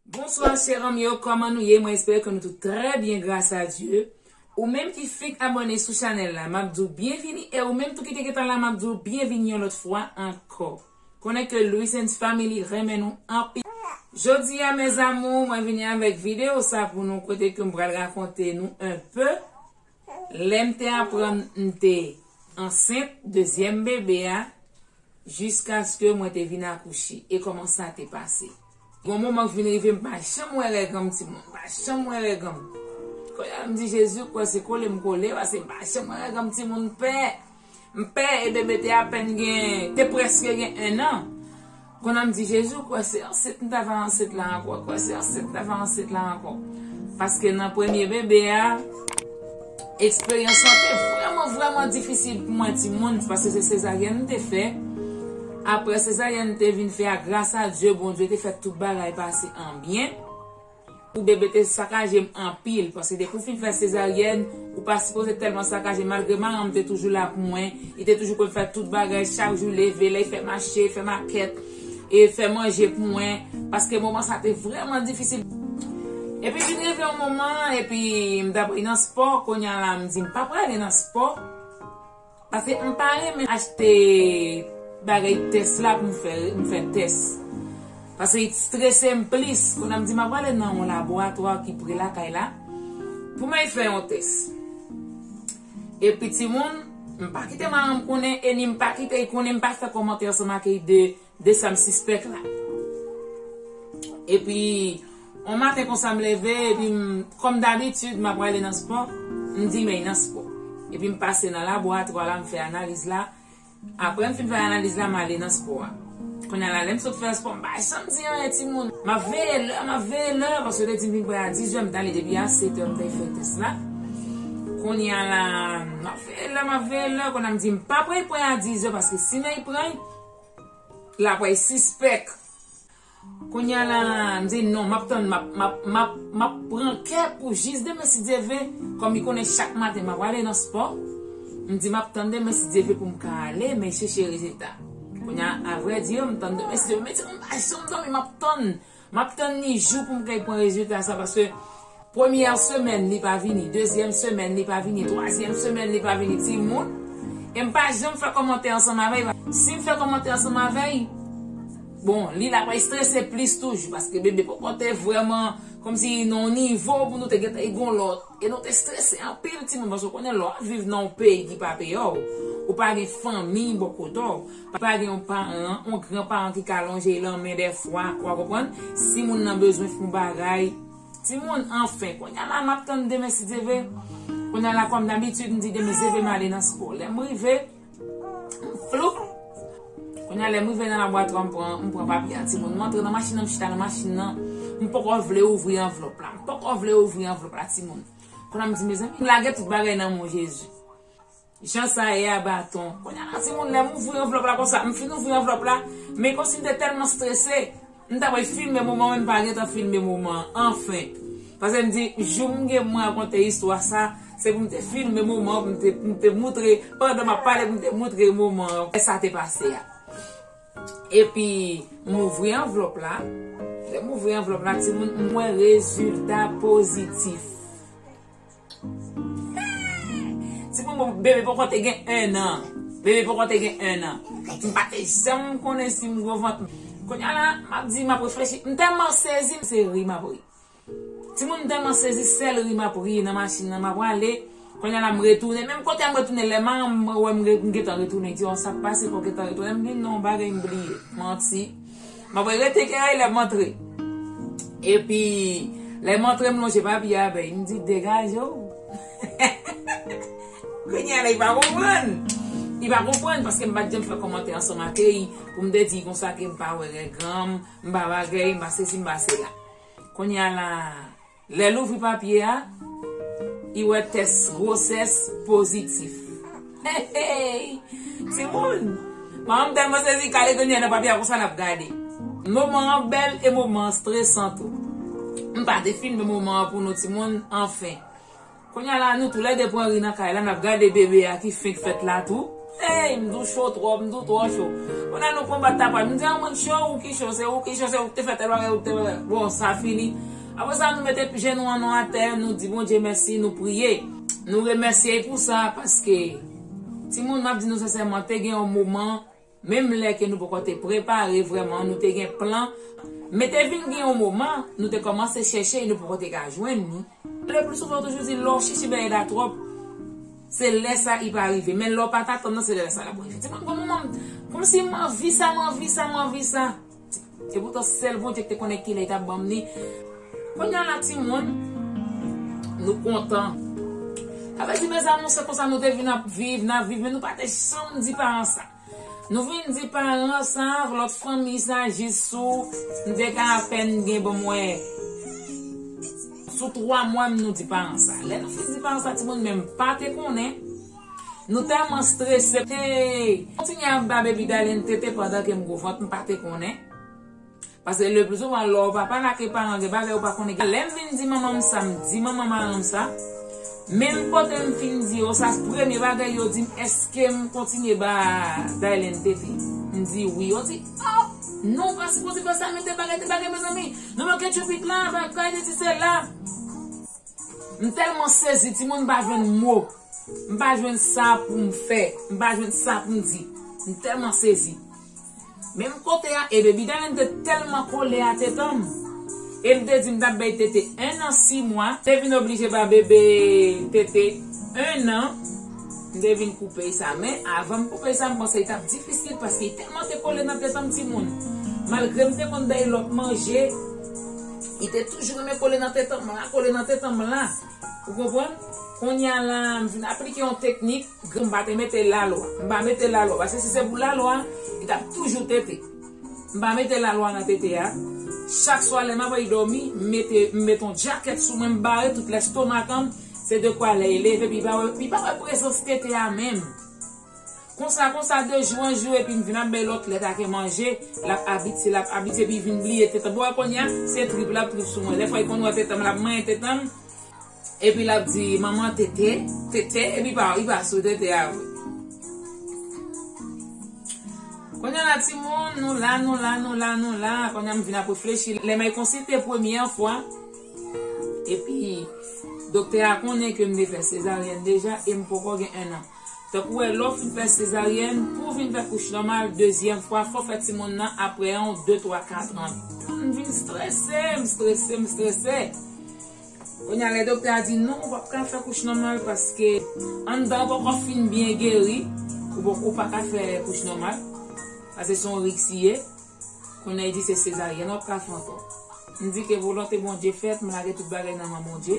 Bonswa chè anm yo kòman nou ye mwen espère ke nou tout trè byen gras a Dye ou menm ki fenk abòne sou chanèl la map diw byenvini e ou menm tou ki te gentan la map diw byenvini yon lòt fwa ankò konnen ke Luisens Family renmen nou anpil. Jodi a mes amours mwen vini avèk video sa pou nou kote ke m pral rakonte nou un peu Lè m te aprann m te ansent dezyèm bebe a jiskaske mwen te vin akouche e kòman sa te pase. Gon moman k vin rive m pa janm wè règ anm timoun, m pa janm wè règ anm. Kounye a m di Jezi ou kwè se kole m kole paske m pa janm wè règ anm timoun pè. M pè e bebe te apèn gen, te prèske gen 1 an. Konnan m di Jezi ou kwè se ansent m ta va ansent la ankò, kwè se ansent m ta va ansent la ankò. Paske nan premye bebe a, eksperyans lan te vrèman vrèman difisil pou mwen ti moun paske se sezaryèn m te fè. Aprè sezaryèn m te vin fè a gras a Dye, Bondye te fè tout bagay pase an byen. Pou bebe te sakaje m anpil paske depi w fin fè sezaryèn ou pa sipoze tèlman sakaje malgre maran m te toujou la pou mwen li te toujou konn fè tout bagay chak jou leve lè fè mache fè makèt e fè manje pou mwen paske moman sa te vrèman difisil epi vin rive yon moman epi m t apre nan spò kounya la m di m pa prale nan spò. Paske m pa renmen achte bagay tès la pou m fè m fè tès. Paske it strese m plis. Kounye a m di m ap ale nan yon laboratwa ki pre lakay la pou m al fè yon tès. Epi timoun, m pa kite manman m konnen e ni m pa kite l konnen, m pa fè kòmantè ansanm ak li de De sa m sispèk la. Epi, on maten konsa m leve, epi m, kòm dabitid, m ap prale nan spò, m di m ey nan spò. Epi m pase nan laboratwa la, m fè analiz la. Apre m fin fè analiz la, m ale nan spò a. Kounye a la, lè m sot fè spò, m pa janm di anyen timoun. M ap veye lè, m ap veye lè, paske yo te di m vin pre a dizè, m t ale depi a setè m t al fè tès la. Kounye a la, m ap veye lè, m ap veye lè, kounye a m di m pa pre pre a dizè, paske si m ey pre, Laprès sispèk. Kounya la m di non map tann map pran kè pou jis demen si Dye vle kòm li konnen chak maten map ale nan spò m di map tann demen si Dye vle pou m ka ale men cheche rezilta kounya avrèdi m tann demen si Dye vle men ti m pa janm domi map tann Map tann ni jou poum kay pwan rezilta sa paske premyè semèn li pa vini dezyèm semèn li pa vini twazyèm semèn li pa vini timoun em pa janm fè kòmantè ansanm avèy sim fè kòmantè ansanm avèy bon li lap estrese plis toujou paske bebe poko te vrèman kòmsi nan yon nivo pou nou te gentan e gon lòt e nou te estrese anpil timoun paske ou konnen lè wap viv nan yon peyi ki pa peyi ou pa gen fanmiy bò kotew. Pa gen yon paran, yon gran paran ki ka lonje lan men dèfwa, wa konprann, si moun nan bezwen fon bagay. Ti moun, anfen, kounya la map tann demen si Dye ve. Kounya la kòm dabitid m di demen si Dye ve male nan spò. Lèm rive, m floup. Kounya lèm rive nan laboratwa m pran, m pran papye a ti moun. M antre nan machin nan, m chita nan machin nan. M poko vle ouvri anvlòp la. M poko vle ouvri anvlòp la ti moun. Kounya m di mezanmi, m lage tout bagay nan men w Jezi. Jan sa ye a baton. Kounya la ti moun lèm ouvri anvlòp la konsa m fin ouvri anvlòp la men kòmsi m te tèlman strese m ta pral filme moman an men m pa gentan filme moman an anfen pase m di jou m gen pou m rakonte istwa sa se pou m te filme moman an pou m te moutre pandan m ap pale pou m te moutre moman an lè sa te pase a epi m ouvri anvlòp la lè m ouvri anvlòp la ti moun m wè rezilta pozitif Ti bonbon m bebe poko te gen 1 an bebe poko te gen 1 an m pa te janm konnen si m gwo vant kounya la m ap di m ap reflechi m tèlman sezi m se ri m ap ri timoun m tèlman sezi sèl ri m ap ri nan machin nan m ap ale kounya la m retounen menm kote a m retounen lè manman m wè m gentan retounen li di oh sa k pase fè w gentan retounen m di non bagay m bliye manti. Mwen vle rete gen rèy lèm antre. Epi lèm antre m lonje papye abèy m di degaje w. Kounye a li pa konprann. Li pa konprann paske m pat janm fè kòmantè ansanm ak li pou m te di konsa ke m pa wè règ granm, m pa bagay, m pa sesi m pa sela. Kounye a la. Lè l ouvri papye a, li wè tès gwosès pozitif. Hey! Timoun! Manman m tèlman sezi, kale grenn li a nan papye a konsa l ap gade. Moman an bèl e moman an stresan tou. M pa defilme moman an pou nou timoun, anfen. Kounya la nou tou lè 2 pran ri nan kay la nap gade bebe a ki fenk fèt la tou eyy m tou cho twòp m tou twò cho kounya nou konbat tapaj m di an mwen cho ou ki cho se ou ki cho se ou ki te fè tèl bagay ou ki te fè bon sa fini aprè sa nou mete p jenou an nou atè nou di Bondye mèsi nou priye nou remèsye l pou sa paske timoun map di nou sensèman te gen yon moman Menm lè ke nou poko te prepare vrèman, nou te gen plan, men te vin gen yon moman, nou te kòmanse chèche e nou poko te ka jwenn ni. Le pli souvan yo toujou di lè w chèche bagay la twòp, se lè sa i pa rive. Men lè w pa t atann nan, se lè sa l ap rive. Ti moun, gon moman m, kòmsi m anvi sa, m anvi sa, m anvi sa. Se poutan sèl Bondye ki te konnen kilè li tap banm li. Kounya la timoun Nou kontan. Sa vle di mes amours se konsa nou te vin ap viv, nap viv men nou pa te janm di paran sa. Nou vin di paran sa avk lòt fanmi sa jis sou m te ka apèn gen bon mwen sou 3 mwa m nou di paran sa. Lè nou fin di paran sa timoun menm pa te konnen. Nou tèlman strese Hey! Kontinye ap ba baby Darline tete pandan kem gwo vant mpa te konnen Paske le plus souvent lè w pa pale ak e paran gen bagay ou pa konnen gen Lèm vin di manmanm sa m di manman maranm sa Menm kote m fin di yo sa premye bagay yo dim eskem kontinye ba Darline tete m di wi yo di oh Nou pa sipoze fè sa mete bagay te bagay mezanmi Nou manke tchoupitla bagay sesi sela. M telman sezi timoun m pa jwenn mo m pa jwenn sa poum fè m pa jwenn sa poum di m telman sezi menm kote a e baby darling te telman kole a tetanm em te di m tap bay tete 1 an 6 mwa te vin oblije ba bebe tete 1 an m te vin koupe sa men avan m koupe sa m panse li tap difisil paske li telman te kole nan tetanm timoun malgrem te konn bay lot manje. Li te toujou renmen kole nan tetanm la, kole nan tetanm la. Ou konprann? Konnya la, m vin aplike yon teknik, m pa te mete lalwa. M pa mete lalwa. Paske si se pou lalwa, li t ap toujou tete. M pa mete lalwa nan tete a. Chak swa lè m ap al dòmi, m mete, m met yon djakèt sou mwen, m bare tout lestomakan m, se dekwa lè e leve, pi pa wè, pi pa wè prezans tete a menm. Konsa konsa de jou an jou epi n vin ap bay lòt lèt ake manje, l ap abitye, l ap abitye epi vin bliye tetan. Bon wè kounye a, se trip l ap trip sou mwen. Dèfwa li konn wè tetan m, l ap manyen tetan m epi l ap di, Manman tete, tete epi pa li pa sou tete a vre. Kounye la timoun, nou la, nou la, nou la, nou la, kounye a m vin ap reflechi. Lè may konsite premyè fwa epi doktè a konnen ke m te fè sezaryèn deja e m poko gen ennan. Tankou wè lè w fin fè sezaryèn pou w vin fè kouch nòmal dezyèm fwa fò w fè timoun nan aprè 1 ou 2 3 4 an. M vin strese, m strese, m strese. Kounya lè doktè a di non ou pap ka fè kouch nòmal paske anndan an poko fin byen geri ou paka fè kouch nòmal paske se yon risk li ye. Kounye a li di se sezaryèn wap ka fè ankò. M di ke volonte Bondye fèt, m lage tout bagay nan men Bondye.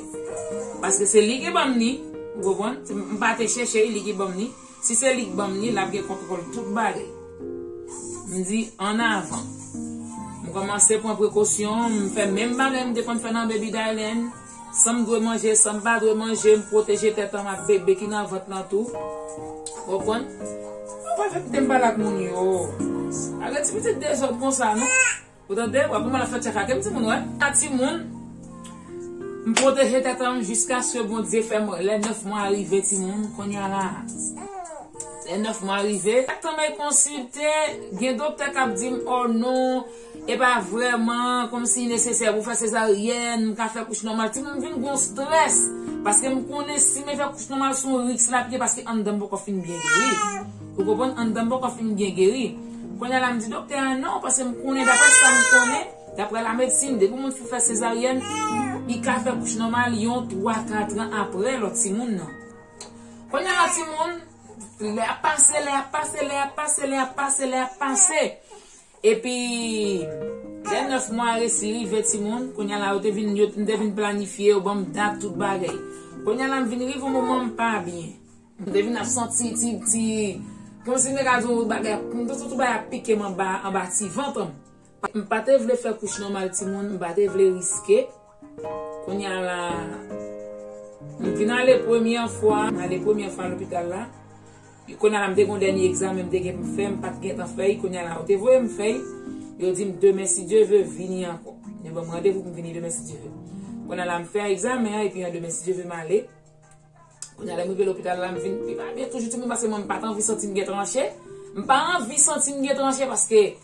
Paske se li ki banm li, ou konprann? M pa te chèche li, li ki banm li. Si se li ki banm li, lap gen kontwòl tout bagay. M di an avan. M kòmanse pran prekosyon, m fè menm bagay m te konn fè nan Baby Dylan. Sa m dwe manje, sa m pa dwe manje, m pwoteje tèt anm ak bebe ki nan vant lan tou. Ou konprann? Ou pa fè kite m pale ak moun yo. Pa gen ti pitit dezòd konsa non. Ou tande? W ap gen mal ap fè tchakake m timoun wè. A timoun, m pwoteje tèt anm jiskaske Bondye fè m lè 9 mwa rive timoun. Kounye a la a, lè 9 mwa rive, chak tan mèy konsilte, gen doktè k ap di m, ò non, E pa vrèman kòmsi li nesesè pou fè sezaryèn, m ka fè kouch nòmal. Ti moun vin gon strès, paske m konnen si me fè kouch nòmal se yon risk lap gen paske anndan m poko fin byen geri. Ou konprann, anndan m poko fin byen geri. Kounye a la m di doktè a non, paske m konnen daprè sa m konnen, daprè la medsin, depi moun fin fè sezaryèn, li ka fè kouch nòmal yon 3 katran aprè lòt ti moun nan. Kounye a la ti moun, lè ap pase, lè ap pase, lè ap pase, lè ap pase, lè ap pase. Epi lè 9 mwa resi rive timoun kounya la yo te vin yo m te vin planifye yo banm dat tout bagay kounya la m vin rive yon moman m pa byen m te vin ap santi ti ti kòmsi m te ka di w bagay ap m te santi bagay ap pike m anba anba ti vant m pa te vle fè kouch nòmal timoun m pa te vle riske. Kounya la m vin ale premyè fwa, m ale premyè fwa lopital la, e kounya la m te gon dènye egzamen m te gen pou m fè m pat gentan fè, kounya la yo te voye m fè, yo di m demen si Dye ve vini ankò. Yo ban m randevou pou m vini demen si Dye ve. Kounya la m fè egzamen an epi an demen si Dye ve m ale. Kounya lè m rive lopital la m vin pi pa byen toujou ti moun paske mwen m pat anvi santi m gen tranche, m pa anvi santi m gen tranche paske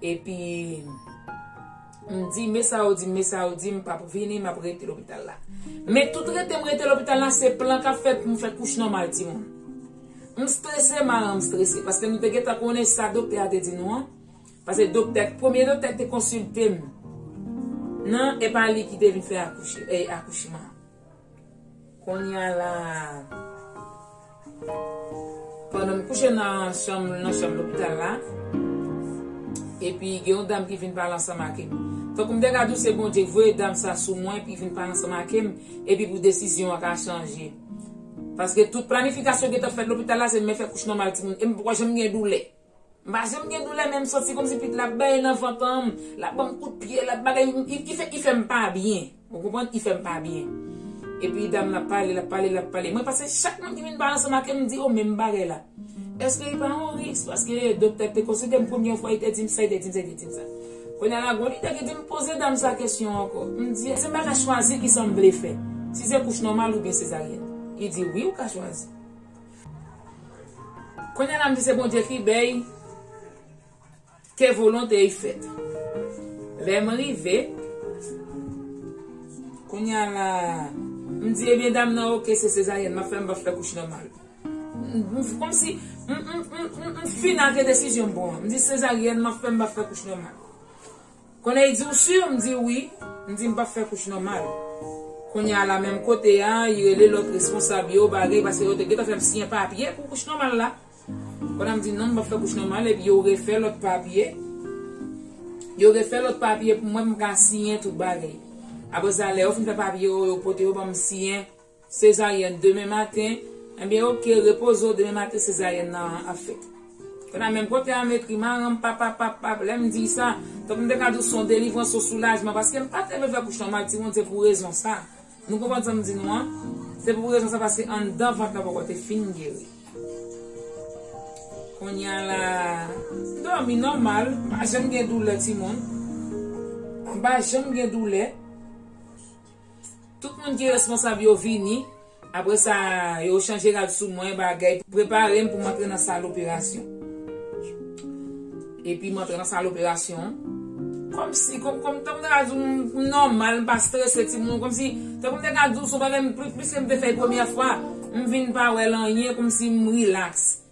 Epi m di me sa yo di m me sa yo di m pap vini map rete lopital la. Men tout rete m rete lopital la se plan kap fèt pou m fè kouch nòmal timoun. M strese maran m strese paske nou te gentan konnen sa doktè a te di nou an. Paske doktè premye doktè ki te konsilte m nan e pa li ki te vin fè akouchman an. Konnya la pandan m kouche nan chanm nan chanm lopital la epi gen yon dam ki vin pale ansanm ake m. Tankou m te ka di w se Bondye ki voye dam sa sou mwen epi vin pale ansanm ake m epi pou desizyon an ka chanje. Paske tout planifikasyon ki te fèt lopital la se men fè kouch nòmal timoun e m pa janm gen doulè. M pa janm gen doulè menm santi komsi pit la ap benyen nan vantanm lap banm kout pye lap bagay li fèm pa byen ou konprann li fèm pa byen epi dam nan ap pale lap pale lap pale mwen pase chak moun ki vin pale ansanm avèm m di yo menm bagay la eske li pa yon risk paske doktè te konsiltem konbyen fwa li te dim sa li te dim sa li te dim sa kounya la gon lide ki dim poze dam sa kesyon ankò m di èske m pa ka chwazi kisam vle fè si se kouch nòmal oubyen sezaryèn li di wi ou ka chwazi Kounye la m di se Bondye ki bey ke volontey fèt lèm rive kounye la m di ebyen dam nan ok se sezaryèn map fè m pap fè kouch nòmal komsi m fina ke desizyon m pran m di sezaryèn map fè m pap fè kouch nòmal. Konnen li di ou sur m di wi m di m pap fè kouch nòmal kounye a la menm kote a li rele lòt responsab yo bagay paske yo te gentan fèm siyen papye pou kouch nòmal la kounye a m di non m pap fè kouch nòmal epi yo refè lòt papye yo refè lòt papye pou mwen pou m ka siyen tout bagay aprè sa lè yo fin fè papye yo yo pote yo banm siyen Sezaryèn demen maten Ebyen ok repoze w demen maten sezaryèn nan ap fèt Konn a menm kote a Metri maranm papa pap pap Lè m di w sa Tank m te ka di w se yon delivrans se yon soulajman Paske m pa te vle fè kouch nòmal Ti moun se pou rezon sa Nou konprann sa m di nou an Se pou rezon sa paske anndan vant la poko te fin geri Kounye a la Dòmi nòmal M pa janm gen doulè ti moun M pa janm gen doulè. Tout moun ki responsab yo vini, apre sa yo chanje rad sou mwen, bagay, prepare m pou m antre nan sal operasyon. Epi m antre nan sal operasyon an, kòm si, kòm, kòm, tankou m ta ka di w m nòmal, m pa strese ti moun, kòm si, tankou m ta ka di w se yon bagay m, pi, piske m te fè l premyè fwa, m vin pa wè l anyen, kòm si m rilaks.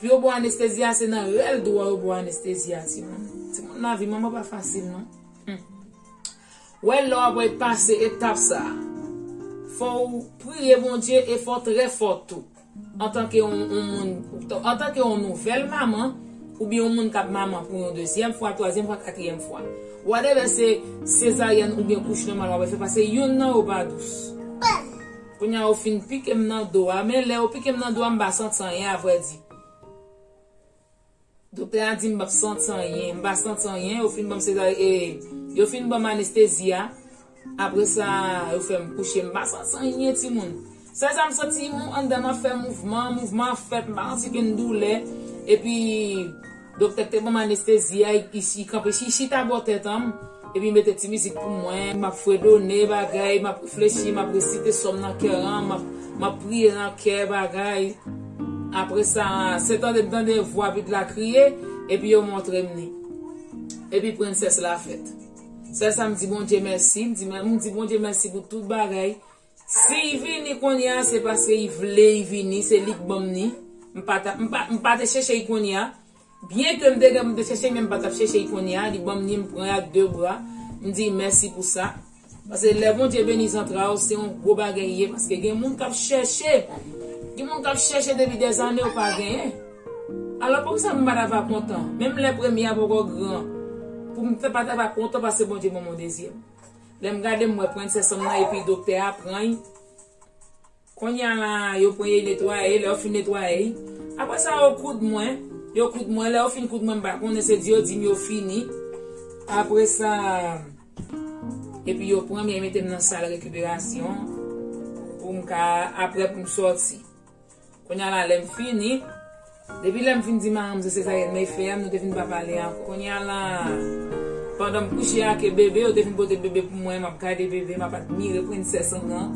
Pou yo baw anestezi a se nan rèl dou an yo baw anestezi a timoun. Timoun lavi manman pa fasil non. Humm. Wè lè wap wè pase etap sa a. Fòw priye Bondye e fòw trè fò tou. Antanke yon moun, antanke yon nouvèl manman oubyen yon moun kap manman pou yon dezyèm fwa, twazyèm fwa, katriyèm fwa. Whatever se sezaryèn oubyen kouch nòmal wap wè fè pase youn nan yo pa dous. Kounya ou fin pikem nan do a men lèw pikem nan do a m pa santi anyen a vrè di Doktè a dim pap santi anyen m pa santi anyen yo fin banm sezaryen e yo fin banm anestezi a apre sa yo fèm kouche m pa santi anyen timoun sèl sa m santi m anndanm ap fè mouvman mouvman an fèt m pa santi kenn doulè epi Doktè k te banm anestezi a isi kanpe si chita bò tèt anm epi mete ti mizik pou mwen map fredone bagay map reflechi map resite sòm nan kè an map priye nan kè bagay apre sa se tande m tande vwa vid la kriye epi yo montre m li epi prensès la fèt sèl sa m di Bondye mèsi m di Bondye mèsi pou tout bagay Siy vini konnya se paske y vle y vini se lik banm ni m pa ta m pa m pa te chèche y konnya byen kem te gen poum te chèche men m pa tap chèche y konnya li banm ni m pran ak de bra m diy mèsi pou sa paske lè Bondye beni zantraw se yon gwo bagay ye paske gen moun kap chèche gen moun kap chèche depi dè zane yo pa genyen alò poukisa m pata va kontan menm lè premye a poko gran poum te pata va kontan paske Bondye banm yon dezyèm. Lèm gade m wè princess m nan epi doktè a prany Konya la yo pran yo netwaye lè yo fin netwaye Aprè sa yo koud mwen Yo koud mwen lè yo fin koud mwen m pa konnen se di yo dim yo fini Aprè sa Epi yo pranm yo metem nan sal rekiperasyon Poum ka aprè poum sòti. Kounya la lèm fini. Depi lèm fin di maranm se sezaryèn mey fè a nou te fin pa pale ankò. Kounya la pandanm kouche ake bebe yo te fin pote bebe pou mwen map gade bebe map admire princess an nan.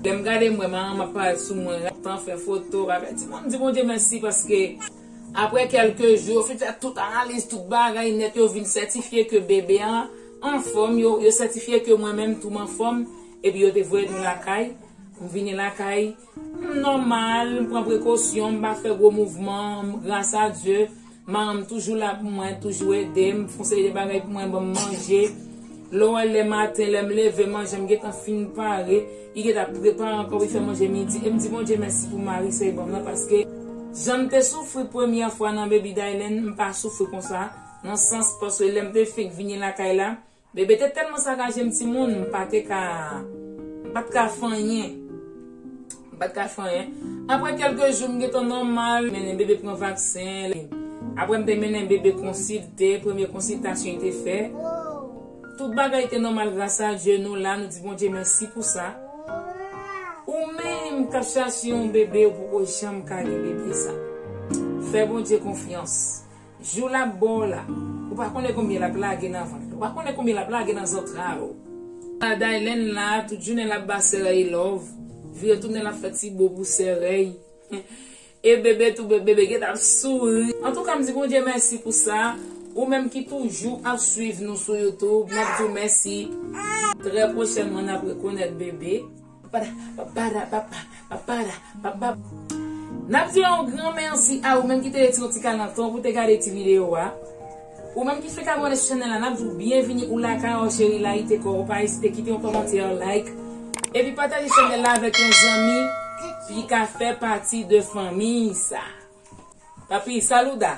Lèm gade mwen maranm ap parèt sou mwen raptan fè foto bagay ti moun di Bondye mèsi paske aprè kèlke jou yo fin fè tout analiz tout bagay nèt yo vin sètifye ke bebe an anfòm yo sètifye ke mwen menm tou m anfòm epi yo te voye nou lakay m vini lakay M nòmal, m pran prekosyon, m pa fè gwo mouvman, gras a Dye, maran m toujou la pou mwen, toujou ede m, fon seri de bagay pou mwen, ban m manje. Lè w wè lè maten, lè m leve, manje m gentan fin pare, li gentan ap prepare ankò pou li fè manje midi e m di Bondye mèsi pou mari sa li ban m nan paske jan m te soufri premyè fwa nan Baby Dylan m pa soufri konsa nan sans paske lè m te fenk vini lakay la Bebe te tèlman sakaje m timoun m pa te ka m pa t ka fè anyen m pa t ka fè anyen aprè kèlke jou m gentan nòmal m mennen bebe pran vaksen li aprè m te mennen bebe konsilte premye konsiltasyon te fè tout bagay te nòmal gras a Dye nou la nou di Bondye mèsi pou sa ou menm k ap chache yon bebe ou poko janm ka gen bebe sa fè Bondye konfyans. Jou lap bo w la. Ou pa konnen konbyen lap lage nan vant ou pa konnen konbyen lap lage nan zantray ou. Ala Daylen la tout jounen lap ba Serèy love vire tounen lap fè ti bo pou Serèy e bebe tou bebe geta ap souri. Antouka m di Bondye mèsi pou sa ou menm ki toujou ap swiv nou sou YouTube nap di w mèsi. Trè pwochènman nap rekonèt bebe. Nap di yon gran mèsi a ou menm ki te rete yon ti kalantan pou te gade ti video a. Ou menm ki fèk abòne sou chanèl la nap di w byenvini ou lakay an cheri layite kò w pa ezite kite yon kòmantè like epi pataje chanèl la avèk yon zanmi li ka fè pati de fanmiy sa. Tanpri saluda!